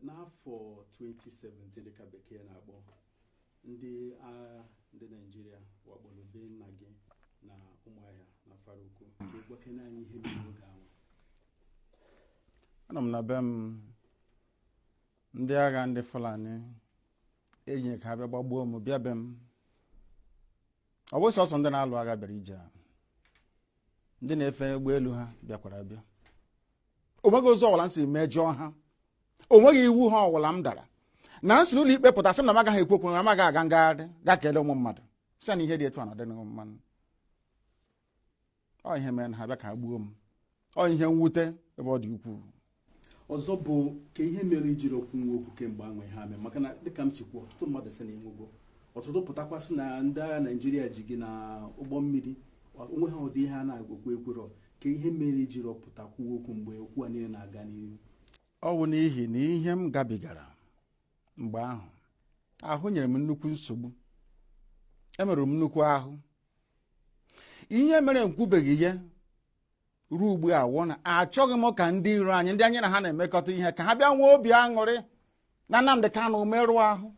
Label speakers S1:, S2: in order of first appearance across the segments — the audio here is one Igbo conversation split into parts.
S1: n'afọ 2017 dịka bekee na-akpọ ndị agha ndị naijiria wakporo be nna gị na ụmụahịa n'afaraukwu gwakene anyị ihe mere oge ahụ
S2: anọ m na be m ndị agha ndị fulani enyi ka ha bịa gbagbuo m bịa be m ọ bụ sọsọ ndị na-alụ agha bịara ije a ndị na-efe ụgbọelu ha bịakwara abịa onweghị ụzọ ọwụla m si mejọọ ha onweghị iwu ha ọwụla m dara na m si n'ụlọ ikpe pụta sị m na m agaghị ekwu okwu na m agaghị aga ngagharị ga kelee ụmụ mmadụ sị na ihe dị etu a na ọdịghị mma ọ ihe mere ha bịa ka ha gbuo m ọ ihe mwute ebe ọ dị ukwuu
S1: ọzọ bụ kee ihe mere i jirọ kwuo okwu kemgbe ahụ ihe a mee maka na dịka m si kwuo ọtụtụ mmadụ sị na ị nwụgo ọtụtụ pụtakwa sị na ndị agha naijiria ji gị na ụgbọ mmiri onweghị ụdị ihe a na-ekwu ekwurọ kee ihe mere i jirọ pụta kwuo okwu mgbe okwu a
S2: niile na-aga n'ihu ọ bụ n'ihi na ihe m gabigara mgbe ahụ ahụ nyere m nnukwu nsogbu emerụrụ m nnukwu ahụ ihe mere m kwubeghị ya ruo ugbu a wụ na achọghị m ka ndị iro anyị ndị anyị na ha na-emekọta ihe ka ha bịa nwee obi aṅụrị na Nnamdị Kanụ merụọ ahụ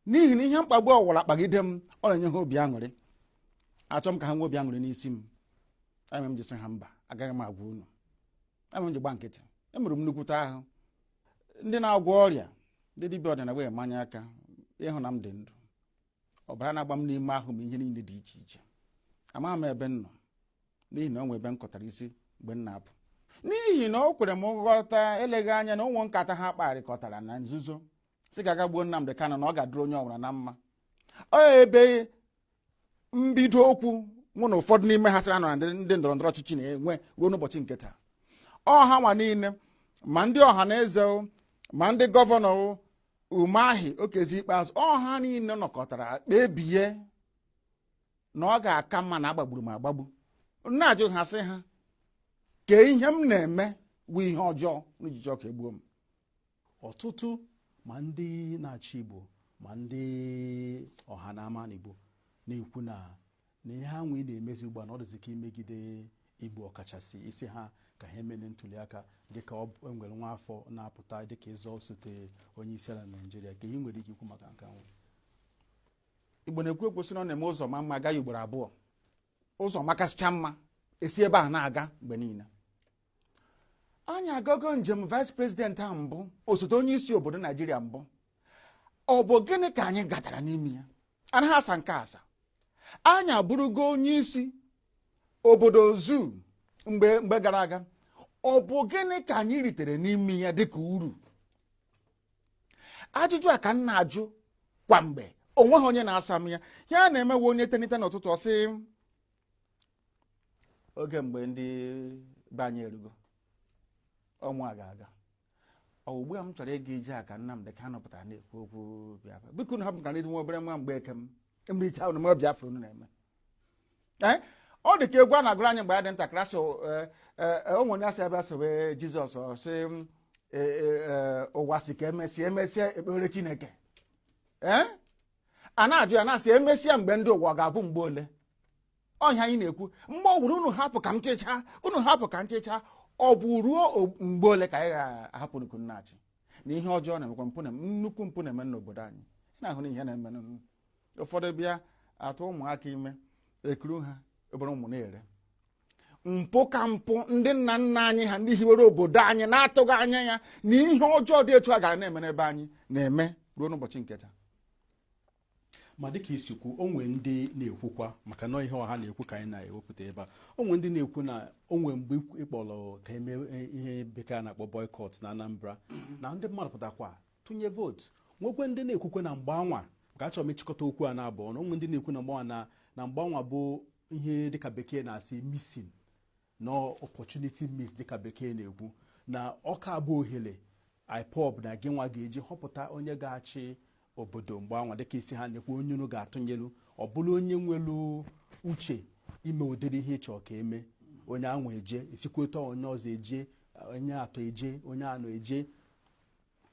S2: n'ihi na ihe mkpagbu ọwụla kpagide m ọ na-enye ha obi aṅụrị achọghị m ka ha nwee obi aṅụrị n'isi m ihe mere m ji sị ha mba agaghị m agwa unu ihe mere m ji gba nkịtị emerụrụ m nnukwute ahụ ndị na-agwọ ọrịa ndị dibịa ọdịnala wee manye aka ịhụ na m dị ndụ ọbara na-agba m n'ime ahụ m ihe niile dị iche iche amaghị m ebe m nọ n'ihi na o nwe ebe m kụtara isi mgbe m na-apụ n'ihi na o kwere m nghọta eleghị anya na ọ wụ nkata ha kparịkọtara na nzuzo sị ka a ga gbuo Nnamdị Kanụ na ọ ga-adịrị onye ọwụla na mma ọ ebe mbido okwu mụ na ụfọdụ n'ime ha sịra na ndị ndọrọ ndọrọ ọchịchị na-enwe ruo n'ụbọchị nke taa ọ ha nwa niile ma ndị ọhanaeze ma ndị gọvanọ Umahi Okezie Ikpeazụ ọ ha niile nọkọtara kpebie na ọ ga-aka mma na agbagburu m agbagbu m na-ajụ ha sị ha kee ihe m na-eme wụ ihe ọjọọ unu ji achọ ka e gbuo m
S1: ọtụtụ ma ndị na-achị Igbo ma ndị ọha na ama n'Igbo na-ekwu na na ihe ha nwee na-emezi ugbu a na ọ dịzi ka imegide Igbo ọkachasị ị sị ha ka ha emena ntuliaka dịka e nwere nwa afọ na-apụta dịka ịzọ osote onye isi ala Naijiria kee ihe i nwere ike ikwu maka nke
S2: ahụ Igbo na-ekwu okwu sị na ọ na-eme ụzọ maa mma a gaa ya ugboro abụọ ụzọ makasịcha mma esi ebe a na-aga mgbe niile anyị agago njem vice president a mbụ osote onye isi obodo naijiria mbụ ọ bụ gịnị ka anyị gatara n'ime ya anaghị asa nke asa anyị abụrụgo onye isi obodo zu mgbe gara aga ọ bụ gịnị ka anyị ritere n'ime ya dịka uru ajụjụ a ka m na-ajụ kwa mgbe onweghị onye na-asa m ya ihe a na-emewe onye tenite n'ụtụtụ ọ sị oge mgbe ndị be anyị erugo ọ mụ ga-aga ọ wụ ugbu a m chọrọ ịga ije a ka Nnamdị Kanụ pụtara na-ekwu okwu Biafra biko nụ hapụ ka na nwa obere nwa mgbe eke m emericha ụnụ ma Biafra unu na-eme eh? ọ dị ka egwu a na-agụrụ anyị mgbe anyị dị ntakịrị asị eh, eh, o nwere asị bịa sobe Jizọs ọ sị ụwa sị ka emesịa emesịa ekpere Chineke a na-ajụ ya na-asị emesịa nke ndị ụwa ga-abụ mgbe ole ọ ihe anyị na-ekwu mgbe ọ wụla unu hapụ ka m chịchaa unu hapụ ka m chịchaa ọ bụ ruo mgbe ole ka anyị ga-ahapụ unu ka unu na-achị na ihe ọjọọ na-emekwa mpụ nnukwu mpụ na-eme n'obodo anyị na-ahụ na ihe na-eme ụfọdụ bịa atụ ụmụaka ime ekuru ha obere ụmụ na-ere mpụ ka mpụ ndị nna nna anyị ha ndị hiwere obodo anyị na-atụghị anya ya na ihe ọjọọ dị etu a gara na-eme n'ebe anyị na-eme ruo n'ụbọchị nke taa
S1: ma dịka i si kwu onwere ndị na-ekwukwa maka na ihe ọha na-ekwu ka anyị na-ewepụta ebe a onwere ndị na-ekwu na onwere mgbe ị kpọrọ ka eme e, ihe bekee na-akpọ boycott na Anambra na ndị mmadụ pụtakwa tụnye vootu nwekwe ndị na-ekwukwe na mgbe anwa ka achọrọ m ịchịkọta okwu a naabọ ọnụ onwere ndị na-ekwu na mgbe anwa na na mgbe anwa bụ ihe dịka bekee na-asị missing na opportunity missed dịka bekee na-ekwu na ọ ka abụ ohere IPOB na gị nwa ga-eji họpụta onye ga-achị obodo mgbe anwa dịka isi ha na-ekwu onye unu ga-atụnyelu ọ bụrụ onye nwere uche ime ụdịrị ihe ị chọ ka eme onye anwa eje isikweta onye ọzọ eje onye atọ eje onye anọ eje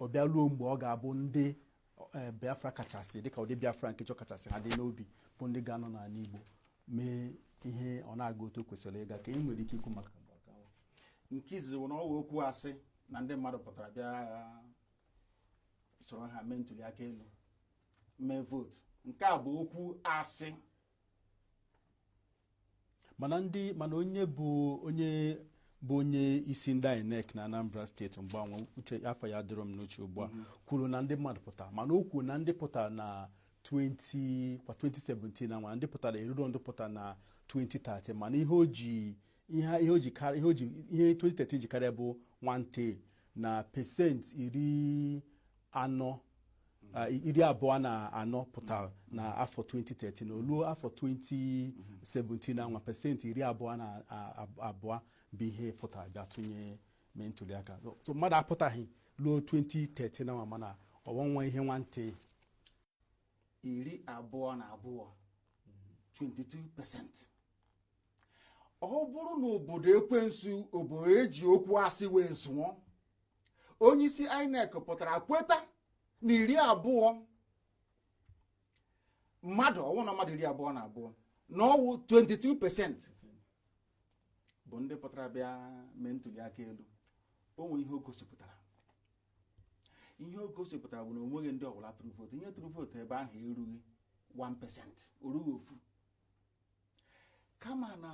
S1: ọ bịa ruo mgbe ọ ga-abụ ndị eh, Biafra kachasị dịka ndị Biafra nke chọ kachasị ha dị n'obi bụ ndị ga-anọ n'ala Igbo mee ihe ọ na-aga otu o kwesịrị ịga ka e nwere ike ikwu
S2: maka nke izizi bụ na ọ wụ okwu asị na ndị mmadụ pụtara bịa soro ha mee ntuli aka elu mee vootu nke a bụ okwu
S1: asị mana ndị mana onye bụ onye bụ onye isi ndị INEC na Anambra steeti mgbe anwa afa ya adịrọ m n'uche ugbu a mm-hmm. kwuru na ndị mmadụ pụtara mana o kwuru na ndị pụtara na 20 kwa 2017 na nwa ndị pụtara eruro ndị pụtara na 2013 mana ihe o ji ihe ihe o ji karị ihe o ji ihe 2013 ji karịa bụ nwanta na pesenti iri anọ ah, iri abụọ na anọ pụtara na afọ 2013 o luo afọ 2017 na nwa pesenti iri abụọ na a- a- abụọ bụ ihe pụtara bịa tụnye mee ntuliaka So- so mmadụ apụtaghị ruo 2013 na nwa mana ọ wụ nwa ihe nwanta
S2: iri abụọ na abụọ 22% ọ bụrụ na obodo ekwensu obodo e ji okwu asị wee zụọ onyeisi INEC pụtara kweta na iri abụọ mmadụ ọ wụ na mmadụ iri abụọ na abụọ na ọ wụ 22% bụ ndị pụtara bịa mee ntuli aka elu o nwere ihe o gosipụtara ihe o gosipụtara bụ na o nweghị ndị ọbụla tụrụ vootu ihe tụrụ vootu ebe ahụ erughị 1% o rughị ofu kama na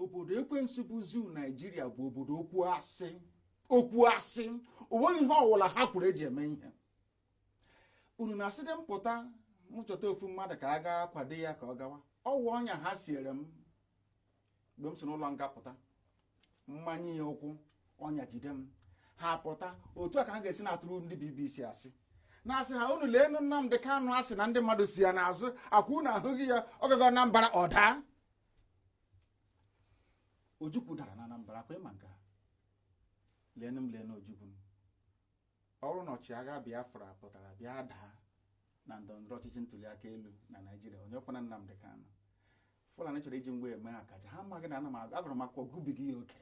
S2: obodo ekwensu bụ zoo Naịjirịa bụ obodo okwu asị o nweghị ihe ọwụla ha kwuru e ji eme ihe unu na-asịdị m pụta m chọta ofu mmadụ ka a gaa kwado ya ka ọ gawa ọ wụ ọnya ha siere m mgbe m si n'ụlọ nga pụta m manye ya ụkwụ ọnya jide m ha pụta otu a ka ha ga-esi na-atụrụ ndị BBC asị na-asị ha unu leenụ Nnamdị Kanụ a sị na ndị mmadụ so ya n'azụ ọ kwa unu ahụghị ya ọ gago Anambra ọ daa Ojukwu dara na Anambra ọ kwa ị ma nke a leenụ m leenụ Ojukwu ọ wụrụ na ọchịagha Biafra pụtara bịa daa na ndọrọndọrọ ọchịchị ntuliaka elu na Naịjirịa onye wụkwanụ Nnamdị Kanụ Fulani chọrọ iji m wee mee akaja ha amaghị na agụrụ m akwụkwọ gụbiga ya oke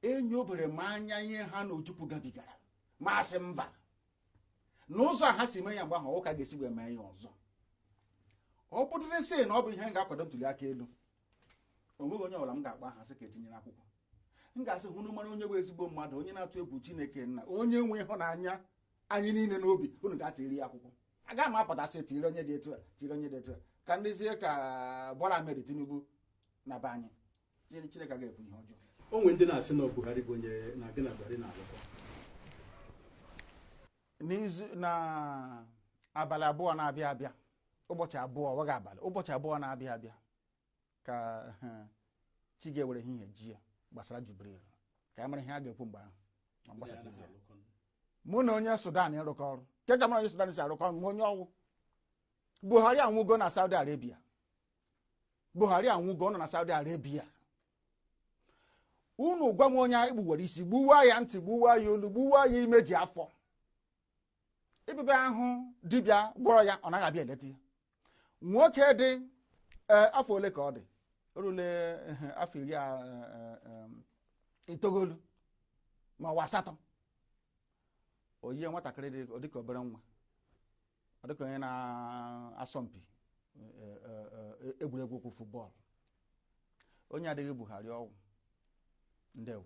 S2: enyobere m anya ihe ha na Ojukwu gabigara m asị mba n'ụzọ ha si mee ya mgbe ahụ wụ ka a ga-esi wee mee ya ọzọ ọ bụdịrị sị na ọ bụ ihe m ga-akwado ntuliaka elu o nweghị onye ọbụla m ga-akpọ aha sị ka e tinyere akwụkwọ m ga-asị unu mara onye bụ ezigbo mmadụ onye na-atụ egwu chineke na onye nwe ịhụnanya anyị niile n'obi unu gaa tiiri ya akwụkwọ agaghị m apụta sị tiiri onye dị etu a tiiri onye dị etu a ka m dịzie ka Bola Ahmed Tinubu na be anyị chineke agaghị ekwe ihe ọjọọ o nwere ndị na-asị na
S1: Buhari bụ onye na-aga na Buhari na-alụkọ
S2: n'izu na abalị abụọ na-abịa abịa ụbọchị abụọ ọ wụghị abalị ụbọchị abụọ na-abịa abịa ka chi ga-ewere ehihie jie gbasara Jubril ka ị mara ihe a ga-ekwu mgbe ahụ mụ na onye Sudan ịrụkọ ọrụ kee ka mụ na onye Sudan si arụkọ ọrụ ma onye ọ wụ Buhari anwụgo na Saudi Arabia Buhari anwụgo nọ na Saudi Arabia unu gwa m onye e gbuwara isi gbuwa ya ntị gbuwa ya olu gbuwa ya imeji afọ dibịa ahụ dibịa gwọrọ ya ọ naghị abịa eleta ya nwoke dị e, afọ ole ka ọ dị o rule afọ iri e, e, itoolu ma ọ wụ asatọ o yie nwatakịrị dị dịka obere nwa ọ dịka onye na-asọ mpi e, e, e, egwuregwu ụkwụ football o nwedịghị Buhari ọ wụ ndewo